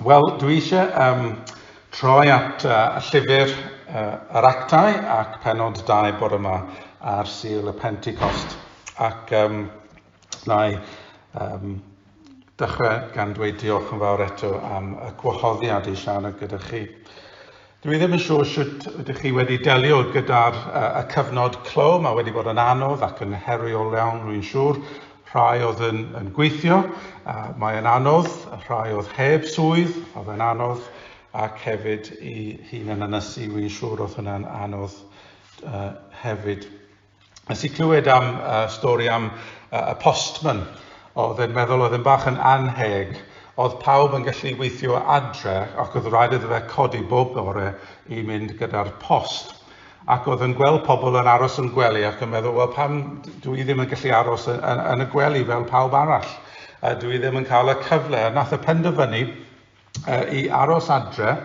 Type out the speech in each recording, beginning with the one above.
Wel, dwi eisiau um, troi at uh, llyfr uh, yr actau ac penod 2 bore yma ar Sul y Pentecost. Ac um, na i um, dechrau gan dweud diolch yn fawr eto am y gwahoddiad i siarad gyda chi. Dwi ddim yn siŵr shwt ydych chi wedi delio gyda'r y cyfnod clo, mae wedi bod yn anodd ac yn heriol iawn rwy'n siŵr. Rhai oedd yn, yn gweithio, a mae yn anodd, rhai oedd heb swydd, oedd yn anodd, ac hefyd i hun yn ynysu, rwy'n siŵr oedd hwnna'n anodd uh, hefyd. Nes i clywed am uh, stori am uh, y postman oedd yn meddwl oedd yn bach yn anheg oedd pawb yn gallu weithio adre ac oedd rhaid iddo fe codi bob bore i mynd gyda'r post. Ac oedd yn gweld pobl yn aros yn gwely ac yn meddwl, wel pam dwi i ddim yn gallu aros yn, yn, yn y gwely fel pawb arall? A dwi i ddim yn cael y cyfle. A nath y penderfynu uh, i aros adre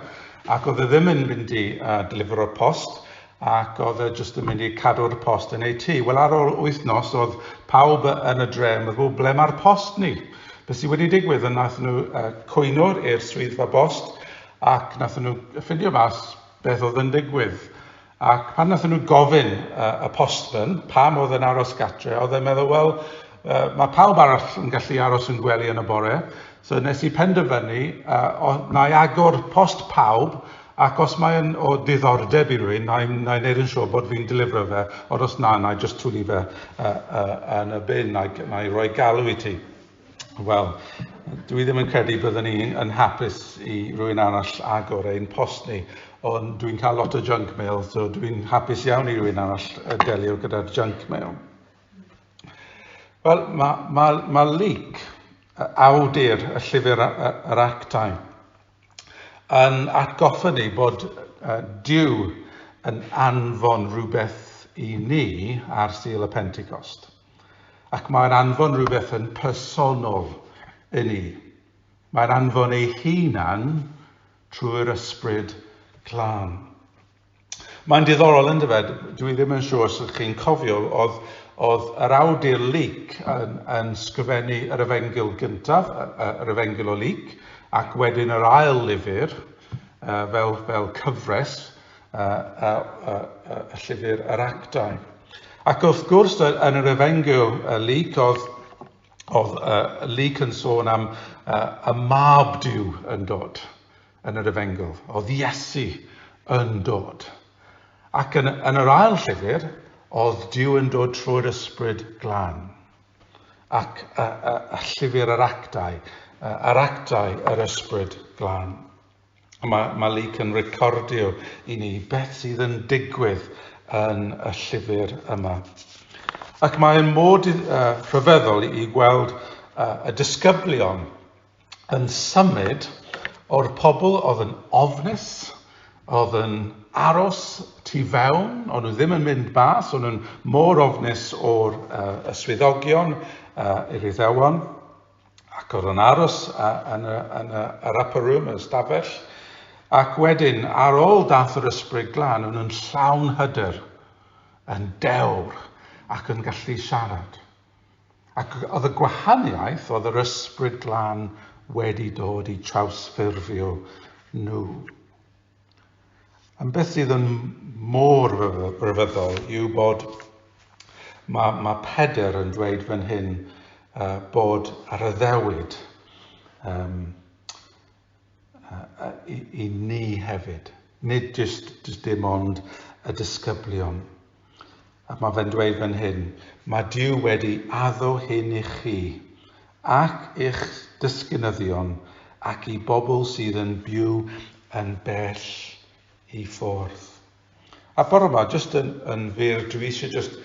ac oedd e ddim yn mynd i uh, delivero'r post ac oedd e jyst yn mynd i cadw'r post yn ei tŷ. Wel ar ôl wythnos oedd pawb yn y dre yn meddwl ble mae'r post ni? Be sydd wedi digwydd yn nath nhw uh, cwyno i'r swyddfa bost ac nath nhw ffindio mas beth oedd yn digwydd. Ac pan nathon nhw gofyn uh, y postman pam oedd yn aros gatre, oedd e'n meddwl, wel, uh, mae pawb arall yn gallu aros yn gwely yn y bore, so nes i penderfynu uh, na i agor post pawb ac os mae'n o diddordeb i rywun, na i'n na neud yn siŵr bod fi'n delifro fe, ond os na, na i just twli fe uh, uh, yn y bin, na i, na i roi galw i ti. Wel, dwi ddim yn credu byddwn ni yn hapus i rwy'n arall agor ein post ni, ond dwi'n cael lot o junk mail, so dwi'n hapus iawn i rwy'n arall delio gyda'r junk mail. Wel, mae, mae, mae leak, awdur y llyfr yr actau, yn atgoffa ni bod uh, Dyw yn anfon rhywbeth i ni ar Sil y Pentecost. Ac mae'n anfon rhywbeth yn personol i ni. Mae'n anfon ei hunan trwy'r ysbryd glân. Mae'n diddorol yn dyfed, dwi ddim yn siŵr os ydych chi'n cofio, oedd, oedd yr awdur Luc yn, yn sgrifennu yr efengyl gyntaf, yr efengyl o Luc, ac wedyn yr ail lyfr, fel, fel cyfres, a, a, a, a, a llyfr yr actau. Ac wrth gwrs, yn yr efengyl uh, Luc, oedd, oedd uh, Luc yn sôn am uh, y mab diw yn dod yn yr efengyl. Oedd Iesu yn dod. Ac yn, yn yr ail llyfr, oedd diw yn dod trwy'r ysbryd glan. Ac a, a, a llyfr yr actau, uh, yr actau yr ysbryd glan. Mae Malik yn recordio i ni beth sydd yn digwydd yn y llyfr yma. Ac mae'n mod uh, rhyfeddol i gweld uh, y disgyblion yn symud o'r pobl oedd yn ofnus, oedd yn aros tu fewn, ond nhw ddim yn mynd bas, ond nhw'n mor ofnus o'r uh, swyddogion uh, i'r Iddewon. ac oedd yn aros yn y, yn y, yr upper room, y stafell, ac wedyn, ar ôl dath yr ysbryd glân, o'n yn llawn hyder, yn dewr, ac yn gallu siarad. Ac oedd y gwahaniaeth oedd yr ysbryd glân wedi dod i trawsffurfio nhw. Ond beth sydd yn mor ryfeddol yw bod mae, mae Pedr yn dweud fan hyn uh, bod ar y ddewyd um, uh, i, i ni hefyd. Nid jyst, jyst dim ond y disgyblion. A mae fe'n dweud fan hyn, mae Duw wedi addo hyn i chi, ac i'ch disgynyddion, ac i bobl sydd yn byw yn bell i ffwrdd. A bore yma, jyst yn, yn fyr, dwi eisiau jyst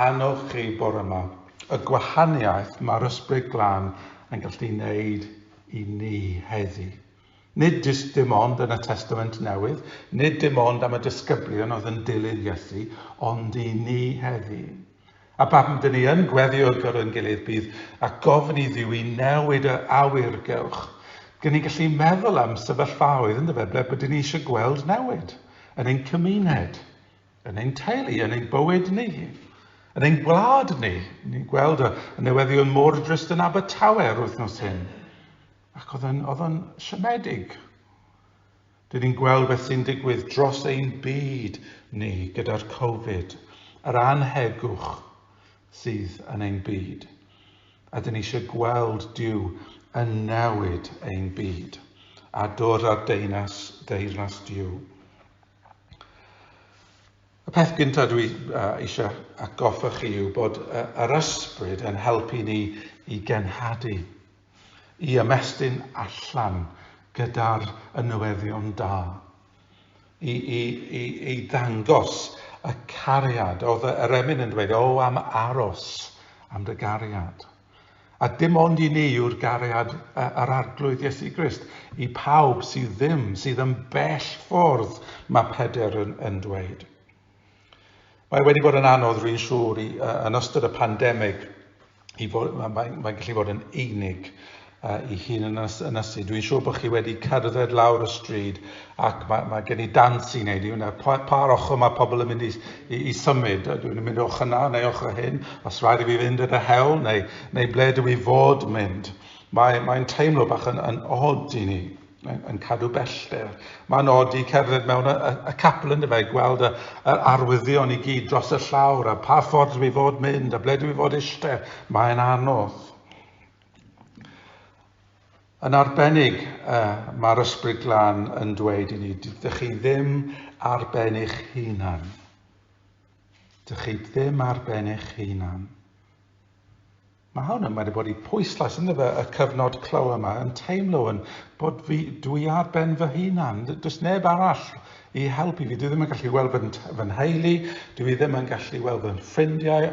annog chi bore yma, y gwahaniaeth mae'r ysbryd glân yn gallu wneud i ni heddi. Nid jyst dim ond yn y Testament Newydd, nid dim ond am y disgyblion oedd yn dilyn Iesu, ond i ni heddi. A pam dyn ni yn gweddio ar gyfer ein gilydd bydd a gofyn i Dduw i newid yr awyr gewch. Gyn ni'n gallu meddwl am sefyllfaoedd yn dyfe ble bydyn ni eisiau gweld newid yn ein cymuned, yn ein teulu, yn ein bywyd ni, yn ein gwlad ni. Ni'n gweld y newyddion mor drist yn Abertawe yr wythnos hyn. Ac oedd o'n, oedd o'n siomedig. Dyn ni'n gweld beth sy'n digwydd dros ein byd ni gyda'r Covid, yr anhegwch sydd yn ein byd. A dyn ni eisiau gweld Dyw yn newid ein byd a dod ar deunas, deyrnas Dyw. Y peth gyntaf dwi uh, eisiau atgoffa chi yw bod uh, yr ysbryd yn helpu ni i genhadu i ymestyn allan gyda'r y newyddion da, i, i, i, i ddangos y cariad. Oedd yr emyn yn dweud, o am aros am dy gariad. A dim ond i ni yw'r gariad yr arglwydd Iesu Grist, i pawb sydd ddim, sydd yn bell ffordd, mae Peder yn, yn dweud. Mae wedi bod yn anodd, rwy'n siŵr, i, uh, yn ystod y pandemig, i fod, mae'n mae, mae gallu bod yn unig uh, i hun yn ynysu. Dwi'n siŵr bod chi wedi cerdded lawr y stryd ac mae, mae gen i dans i wneud i hwnna. Pa, pa'r ochr mae pobl yn mynd i, i, i symud? Dwi'n mynd o'ch yna neu o'ch hyn, os rhaid i fi fynd yn y hewl neu, neu ble dwi fod mynd. Mae'n mae teimlo bach yn, yn odd i ni. Mae'n yn cadw bellder. Mae'n od i cerdded mewn y, y, y capel yn dyfa i gweld y, y arwyddion i gyd dros y llawr a pa ffordd dwi fod mynd a ble dwi fod eistedd. Mae'n anodd. Yn arbennig, uh, mae'r ysbryd glân yn dweud i ni, dych chi ddim ar ben eich hunan. Dych chi ddim ar ben eich hunan. Mae hwn yn wedi bod i pwyslais ynddo fe y cyfnod clo yma, yn teimlo yn bod fi, dwi ar ben fy hunan, does neb arall i helpu fi, dwi ddim yn gallu weld fy, fy nheulu, dwi ddim yn gallu weld fy ffrindiau,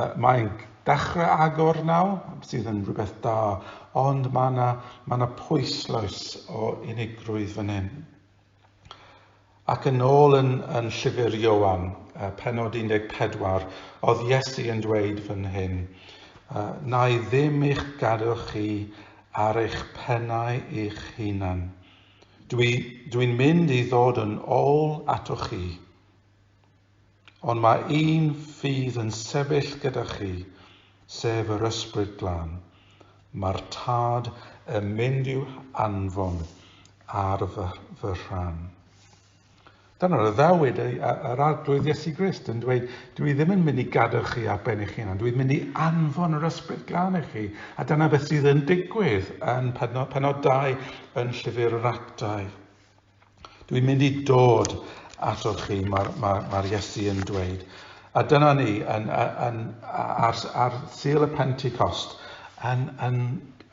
uh, mae'n dechrau agor nawr, sydd yn rhywbeth da, ond mae yna, mae yna pwyslais o unigrwydd fan hyn. Ac yn ôl yn, yn llyfr Ioan, uh, penod 14, oedd Iesu yn dweud fan hyn, uh, na i ddim eich gadw chi ar eich pennau eich hunan. Dwi'n dwi mynd i ddod yn ôl atoch chi. Ond mae un fydd yn sefyll gyda chi, sef yr Ysbryd Glân. Mae'r Tad yn mynd i'w anfon ar fy, fy rhan. Dyna'r addewid yr Arglwydd Iesu Grist yn dweud, dwi ddim yn mynd i gadw chi ar ben eich hunan, dwi'n mynd i anfon yr ysbryd glân i chi. A dyna beth sydd yn digwydd yn penod, penod 2 yn llyfr yr actau. Dwi'n mynd i dod atoch chi, mae'r ma, ma Iesu yn dweud. A dyna ni, yn, yn, ar, ar Sul y Pentecost, yn, yn,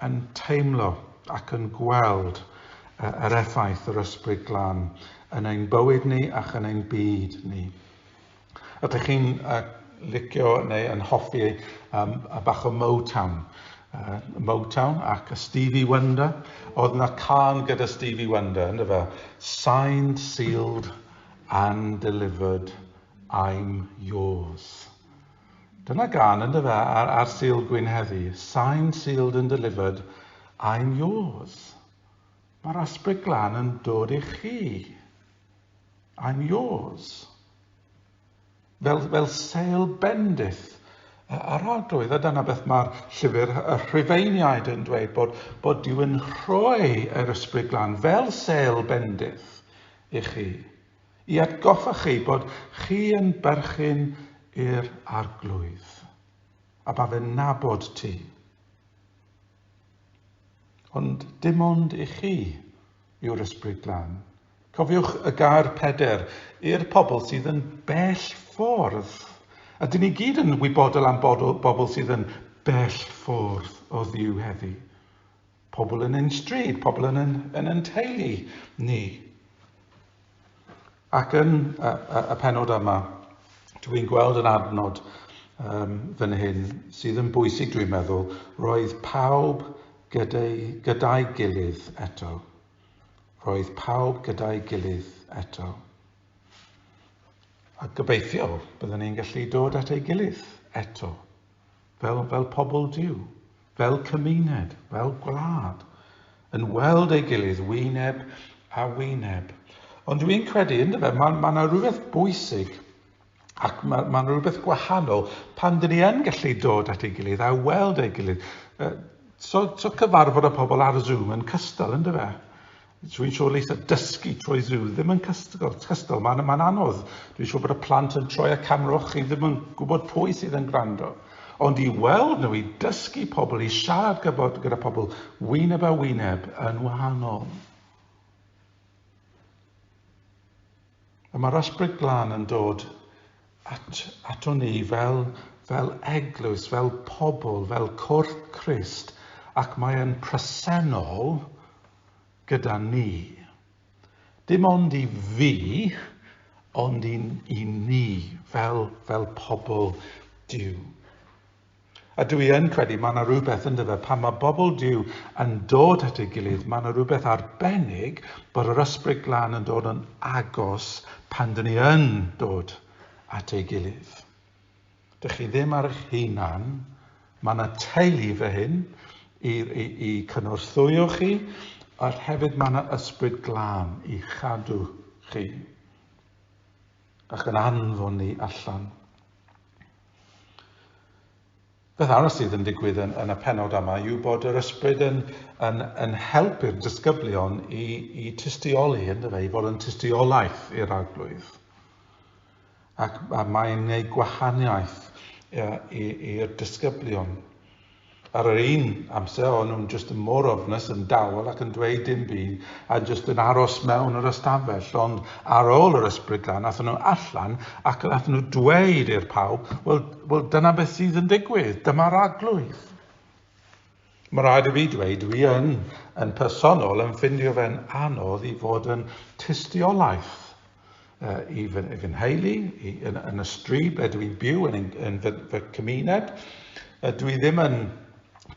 yn teimlo ac yn gweld yr effaith yr ysbryd glan yn ein bywyd ni ac yn ein byd ni. Ydych chi'n uh, licio neu yn hoffi um, a bach o Motown? Uh, Motown ac a Stevie Wonder. Oedd yna can gyda Stevie Wonder, ynddo fe? Signed, sealed and delivered, I'm yours. Dyna gan ynddo fe ar, ar Sil Gwyn heddi. Signed, sealed and delivered, I'm yours. Mae'r Ysbryd Glân yn dod i chi. I'm yours. Fel, fel seil bendith yr arglwydd, a dyna beth mae'r llyfr y Rhufeiniaid yn dweud, bod, bod Dyw yn rhoi yr Ysbryd Glân fel seil bendith i chi, i atgoffa chi bod chi yn berchyn i'r arglwydd, a ba fe'n nabod ti. Ond dim ond i chi yw'r Ysbryd Glân. Cofiwch y gair peder i'r pobl sydd yn bell ffordd. A dyn ni gyd yn wybodol am bobl sydd yn bell ffordd o ddiw heddi. Pobl yn ein stryd, pobl yn yn, yn yn teulu ni. Ac yn y, y, y penod yma, dwi'n gweld yn adnod um, fan hyn sydd yn bwysig dwi'n meddwl, roedd pawb gyda'i, gyda'i gilydd eto. Roedd pawb gyda'i gilydd eto. A gobeithio byddwn ni'n gallu dod at ei gilydd eto. fel, fel pobl Duw, fel cymuned, fel gwlad, yn weld ei gilydd wyneb a wyneb. Ond dwi'n credu, ynddo fe, mae yna ma rhywbeth bwysig ac mae yna ma rhywbeth gwahanol pan dyn ni yn gallu dod at ei gilydd a weld ei gilydd. So, so cyfarfod y pobl ar Zoom yn cystal, ynddo fe? Dwi'n siŵr leis a dysgu trwy Zoom ddim yn cystal, cystal. mae'n ma anodd. Dwi'n siŵr bod y plant yn troi y camera o'ch chi ddim yn gwybod pwy sydd yn gwrando. Ond i weld nhw, i dysgu pobl, i siarad gybod gyda pobl, wyneb a wyneb yn wahanol. A mae'r ysbryd glân yn dod at, ato ni fel, fel eglwys, fel pobl, fel corff Christ, ac mae'n presennol gyda ni. Dim ond i fi, ond i, i ni, fel, fel pobl Dyw. A dwi yn credu mae yna rhywbeth yn dyfa pan mae bobl diw yn dod at ei gilydd, mae yna rhywbeth arbennig bod yr ysbryd glân yn dod yn agos pan dyn ni yn dod at ei gilydd. Dych chi ddim ar eich hunan, mae yna teulu fy hyn i, i, i cynorthwyo chi, a hefyd mae yna ysbryd glân i chadw chi. Ac yn anfon ni allan. Beth arall sydd yn digwydd yn, yn y penod yma yw bod yr ysbryd yn, yn, yn helpu'r disgyblion i, i tystioli, yn dweud, i fod yn tystiolaeth i'r arglwydd. ac mae'n gwneud gwahaniaeth i'r disgyblion. Ar yr un amser, o'n nhw'n jyst yn mor ofnus, yn dawel ac yn dweud dim byd, a jyst yn aros mewn yr ystafell. Ond ar ôl yr ysbrydlan, athyn nhw allan ac athyn nhw dweud i'r pawb, wel, wel dyna beth sydd yn digwydd, dyma'r arglwydd. Mae'n rhaid i fi dweud, dwi yn, yn personol, yn ffindio fe'n anodd i fod yn tystiolaeth uh, i fy, fy nheulu, i, yn, yn y stryd ble dwi'n byw, yn, yn, yn fy, fy cymuned. Uh, dwi ddim yn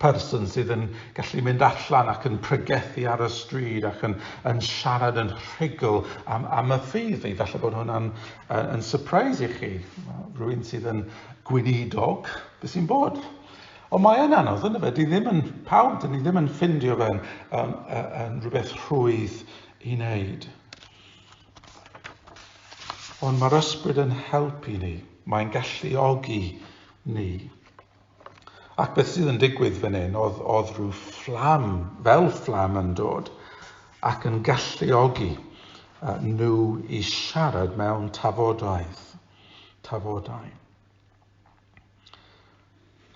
person sydd yn gallu mynd allan ac yn pregethu ar y stryd ac yn, yn siarad yn rhugl am, am y ffydd. I falle bod hwnna'n uh, yn surprise i chi. Rwy'n sydd yn gweinidog, beth sy'n bod? Ond mae yn anodd, yn fe, di ddim yn pawb, dyn ni ddim yn ffindio fe'n um, yn rhywbeth rhwydd i wneud. Ond mae'r ysbryd yn helpu ni, mae'n galluogi ni. Ac beth sydd yn digwydd fan hyn, oedd, oedd rhyw fflam, fel fflam yn dod, ac yn galluogi nhw i siarad mewn tafodaeth. Tafodau.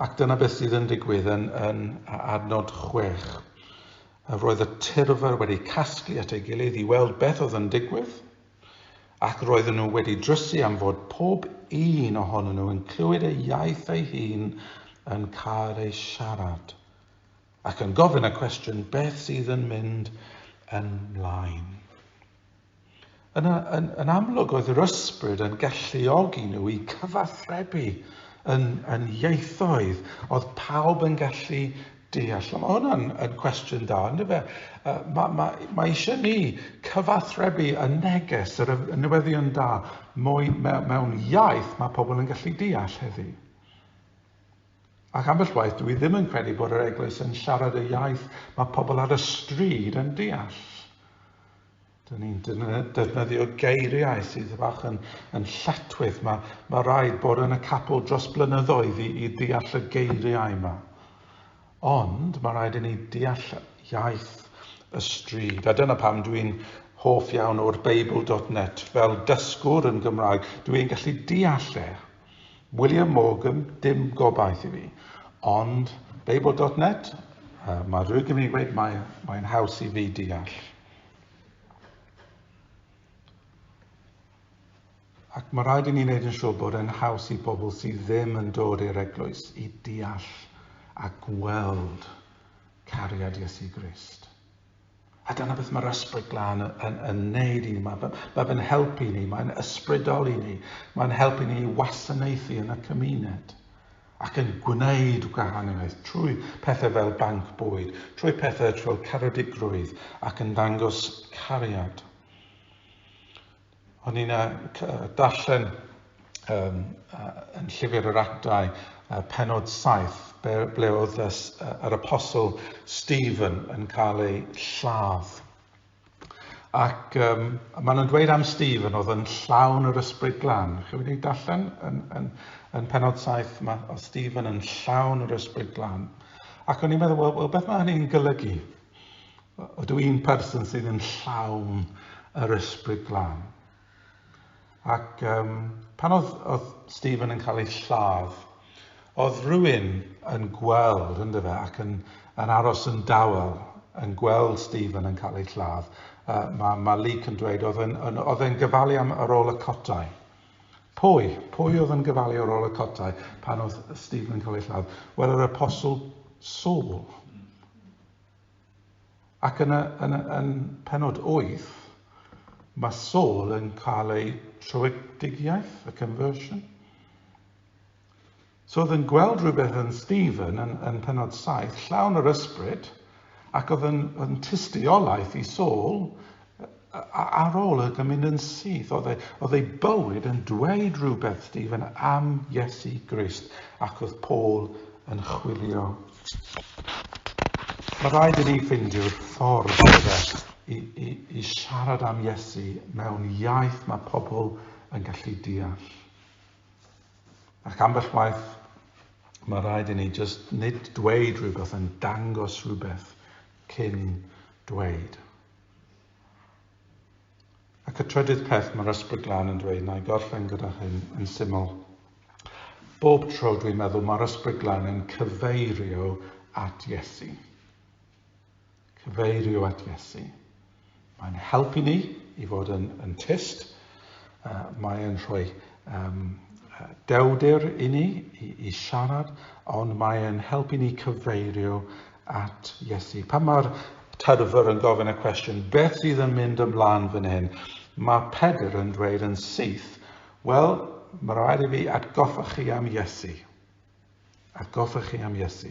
Ac dyna beth sydd yn digwydd yn, yn adnod 6. Roedd y tyrfer wedi casglu at ei gilydd i weld beth oedd yn digwydd, ac roedden nhw wedi drysu am fod pob un ohonyn nhw yn clywed ei iaith ei hun yn cael ei siarad, ac yn gofyn y cwestiwn beth sydd yn mynd ymlaen. Yn, yn, yn amlwg oedd yr ysbryd yn galluogi nhw i cyfathrebu yn, yn ieithoedd oedd pawb yn gallu deall. Mae hwnna'n yn cwestiwn da, ynddo fe? Uh, mae, mae, mae eisiau ni cyfathrebu y neges, yr newyddion da, mwy mewn iaith mae pobl yn gallu deall heddi. Ac ambell waith, dwi ddim yn credu bod yr eglwys yn siarad y iaith mae pobl ar y stryd yn deall. Dyn ni'n defnyddio geiriau sydd bach yn, yn lletwyth. Mae, mae rhaid bod yn y capel dros blynyddoedd i, i deall y geiriau yma. Ond mae rhaid i ni deall iaith y stryd. A dyna pam dwi'n hoff iawn o'r Beibl.net fel dysgwr yn Gymraeg. Dwi'n gallu deall e. William Morgan, dim gobaith i fi. Ond Babel dot net, uh, mae rhywun yn mynd i dweud mae'n mae haws i fi deall. Ac mae rhaid i ni wneud yn siŵr bod e'n haws i bobl sydd ddim yn dod i'r eglwys i deall a gweld cariad Iesu Grist. A dyna beth mae'r ysbryd glân yn, yn, yn neud i ni. Mae, mae fe'n helpu ni, mae'n ysbrydoli ni, mae'n helpu ni i wasanaethu yn y cymuned ac yn gwneud gwahaniaeth trwy pethau fel banc bwyd, trwy pethau fel caredigrwydd ac yn dangos cariad. O'n i'n darllen um, yn llyfr yr actau uh, penod 7 ble oedd yr apostol Stephen yn cael ei lladd. Ac um, maen nhw'n dweud am Stephen oedd yn llawn yr ysbryd glan. Chi wedi darllen yn, yn, yn penod 7 mae oedd Stephen yn llawn yr ysbryd glan. Ac o'n i'n meddwl, wel, well, beth mae hynny'n golygu? Ydw i'n person sydd yn llawn yr ysbryd glân? Ac um, pan oedd, oedd Stephen yn cael ei lladd, oedd rhywun yn gweld, ynddo fe, ac yn, yn aros yn dawel, yn gweld Stephen yn cael ei lladd. Uh, mae, mae Luke yn dweud, oedd e'n gyfalu am yr ôl y cotau. Pwy? Pwy oedd yn gofalu ar ôl y cotai pan oedd Stephen yn cael ei lladd? Wel, yr Apostol Saul. Ac yn, y, yn, y, yn penod 8, mae Saul yn cael ei trwydigiaeth, y conversion. So oedd yn gweld rhywbeth yn Stephen yn, yn penod saith, llawn yr ysbryd, ac oedd yn, oedd yn tystiolaeth i Saul, ar ôl y mynd yn syth, oedd ei, oedd ei bywyd yn dweud rhywbeth, Stephen, am Iesu Grist, ac oedd Paul yn chwilio. Mae rhaid i ni ffeindio'r ffordd yna i, i, i siarad am Iesu mewn iaith mae pobl yn gallu deall. Ac ambell waith, mae rhaid i ni just nid dweud rhywbeth yn dangos rhywbeth cyn dweud. Ac y trydydd peth mae'r ysbryd glân yn dweud, na i gorffen gyda hyn yn syml. Bob tro dwi'n meddwl mae'r ysbryd glân yn cyfeirio at Iesu. cyfeirio at Iesu. Mae'n helpu ni i fod yn, yn tyst. Uh, mae'n rhoi um, dewdir i ni i, i siarad, ond mae'n helpu ni cyfeirio at Iesu. Pan mae'r tyrfr yn gofyn y cwestiwn, beth sydd yn mynd ymlaen fan hyn? Mae Pedr yn dweud yn syth, wel, mae rhaid i fi atgoffa chi am Iesu. Atgoffa chi am Iesu,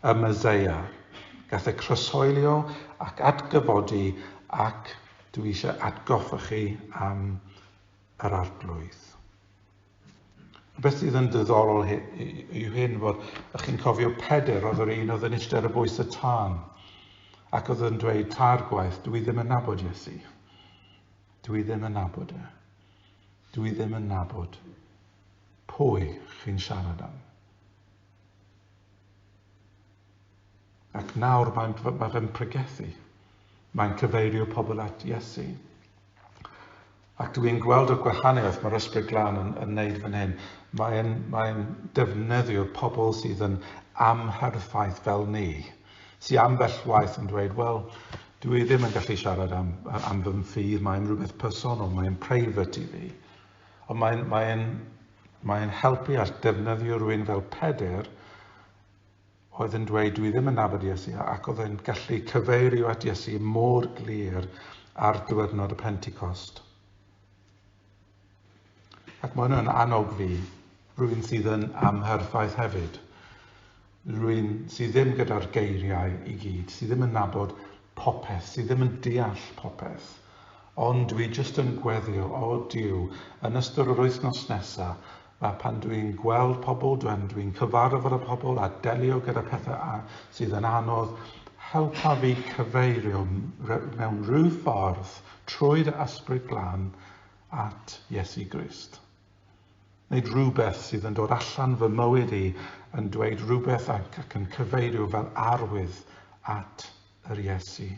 y Meseia, gath e croeshoelio ac atgyfodi ac dw i eisiau atgoffa chi am yr Arglwydd. Beth sydd yn ddiddorol yw hyn fod ych chi'n cofio Peder, oedd yr un oedd yn eistedd ar y bwys y tân ac oedd yn dweud tair gwaith, dw i ddim yn nabod Iesu. Dw i ddim yn nabod e. Dw i ddim yn nabod Pwy chi'n siarad am? Ac nawr mae'n mae fe'n pregethu. Mae'n cyfeirio pobl at Iesu. Ac dwi yn gweld y gwahaniaeth mae'r Ysbryd Glân yn, yn neud fan hyn. Mae'n mae defnyddio pobl sydd yn amherffaith fel ni, sy'n ambell waith yn dweud, wel, dwi ddim yn gallu siarad am, am fy ffydd, mae'n rhywbeth personol, mae'n private i fi. Ond mae'n, mae'n, mae'n helpu at defnyddio rhywun fel Peder oedd yn dweud, dwi ddim yn nabod Iesu, ac oedd e'n gallu cyfeirio at Iesu mor glir ar diwrnod y Pentecost. Ac mae hwnna'n annog fi, rwy'n sydd yn amherffaith hefyd. rywun sydd ddim gyda'r geiriau i gyd, sydd ddim yn nabod popeth, sydd ddim yn deall popeth, ond dwi jyst yn gweddio, o Duw, yn ystod yr wythnos nesa, a pan dwi'n gweld pobl, dwi'n dwi cyfarfod y pobl a delio gyda pethau sydd yn anodd, helpa fi cyfeirio mewn rhyw ffordd trwy'r Ysbryd Glân at Iesu Grist. Nid rhywbeth sydd yn dod allan fy mywyd i yn dweud rhywbeth ac ac yn cyfeirio fel arwydd at yr Iesu.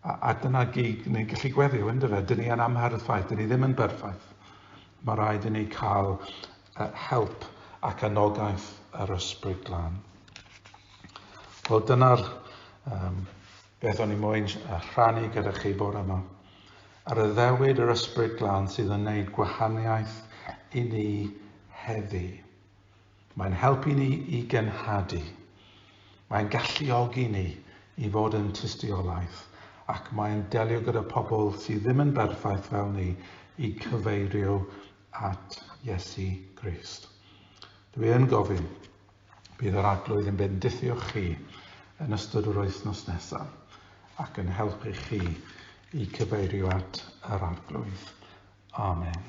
A, a dyna gig, ni'n gallu gweddio, ynddo fe, dyn ni yn amhardd ffaith, dyn ni ddim yn berffaith. Mae rhaid i ni cael uh, help ac anogaeth yr ysbryd glân. Wel, dyna'r um, Beth o'n i moyn rhannu gyda chi bore yma? A ryddewyd yr Ysbryd Glân sydd yn neud gwahaniaeth i ni heddi. Mae'n helpu ni i genhadu. Mae'n galluogi ni i fod yn tystiolaeth ac mae'n delio gyda pobl sydd ddim yn berffaith fel ni i cyfeirio at Iesu Grist. Dwi yn gofyn, Bydd yr Arglwydd yn bendithio chi yn ystod yr wythnos nesaf ac yn helpu chi i cyfeirio at yr Arglwydd. Amen.